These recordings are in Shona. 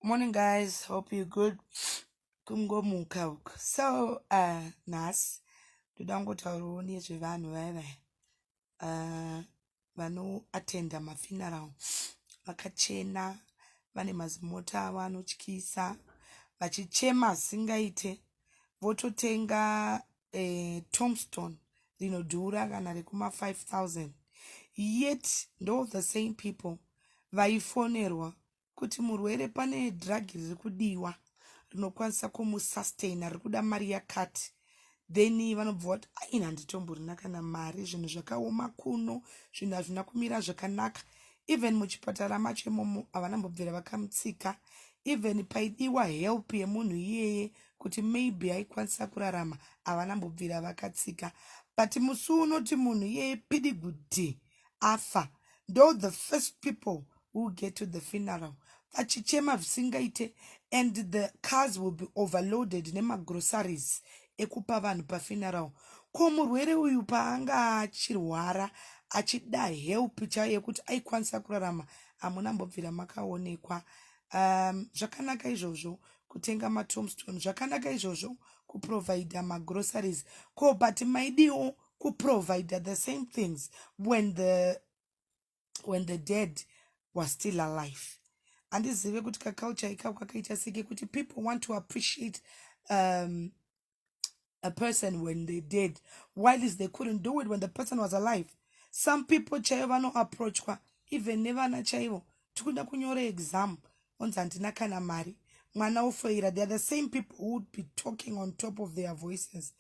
Morning guys, hope you good. Kungomuka uku. So, uh, nhasi ndoda kungotaurawo nezvevanhu vaya vaya uh, vanoatenda mafuneral vakachena vane mazimota avo anotyisa vachichema asingaite vototenga eh, tomstone rinodhura kana rekuma 5000 yet ndo the same people vaifonerwa kuti murwere pane drug riri kudiwa rinokwanisa kumusustaina riri kuda mari yakati then vanobva vati aina handitomborina kana mari zvinhu zvakaoma kuno zvinhu hazvina kumira zvakanaka even muchipatara macho imomo havana mbobvira vakamutsika even paidiwa help yemunhu iyeye kuti maybe aikwanisa kurarama havana mbobvira vakatsika but musi unoti munhu iyeye pidigudhi afa ndo the first people who get to the funeral vachichema zvisingaite and the cars will be overloaded nemagroceries ekupa vanhu pafuneral ko murwere uyu paanga achirwara achida help chaiyo yekuti aikwanisa kurarama hamuna mbobvira makaonekwa um, zvakanaka izvozvo kutenga matomstone zvakanaka izvozvo kuprovida magroceries ko but maidiwo kuprovider the same things when the when the dead was still alive handizive kuti kaculture ikako kakaita seke kuti people want to appreciate um, a person when they dead while is they couldn't do it when the person was alive some people chaivo vanoapproachwa even nevana chaivo tikuda kunyora exam onzi handina kana mari mwana ofoira they are the same people who would be talking on top of their voices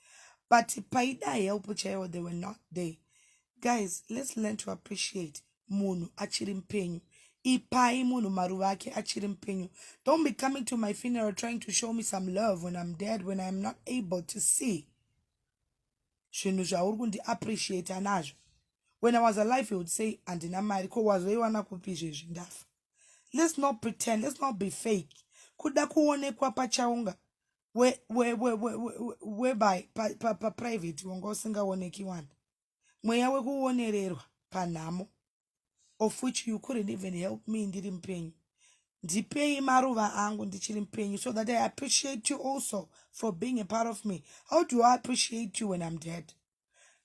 but paida help chaiwo they were not there guys let's learn to appreciate munhu achiri mupenyu ipai munhu maruva ake achiri mupenyu don't be coming to my funeral trying to show me some love when i'm dead when i'm not able to see zvinhu zvauri kundi appreciata nazvo when i was alive he would say handina mari ko wazoiwana kupi izvezvi ndafa let's not pretend let's not be fake kuda kuonekwa pachaunga whereby paprivate wanga usingaoneki wani mweya wekuonererwa panhamo of which you couldn't even help me ndiri mupenyu ndipei maruva angu ndichiri mupenyu so that i appreciate you also for being a part of me how do i appreciate you when i'm dead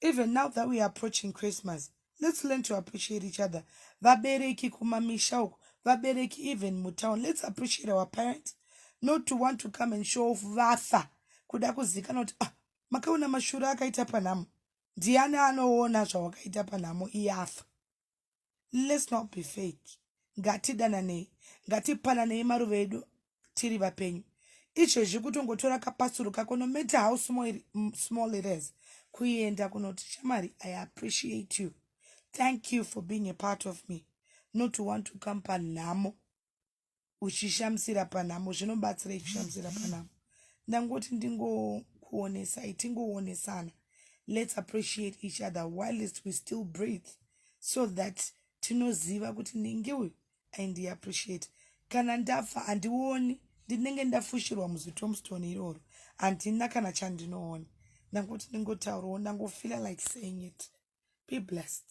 even now that weare approaching christmas let's learn to appreciate each other vabereki kumamisha uku vabereki even mutown let's appreciate our parents not to want to come and show off vafa kuda kuzikana kuti ah makaona mashura akaita panhamo ndiani anoona zvawakaita panhamo iyafa let's not be fake ngatidananei ngatipananei maruva edu tiri vapenyu izvezvi kutongotora kapasuro kako no matter how small it is kuenda kunoti shamari i appreciate you thank you for being a part of me not to want to come panhamo uchishamisira panhamo zvinobatsirei kushamisira panhamo ndangoti ndingokuonesai tingoonesana let's appreciate each other whilst we still breathe so that tinoziva kuti ndinge uyu aindiappreciate kana ndafa handioni ndinenge ndafushirwa muzitomstone iroro handina kana chandinoona ndangotiningotaurawo ndangofeela like saying it be blessed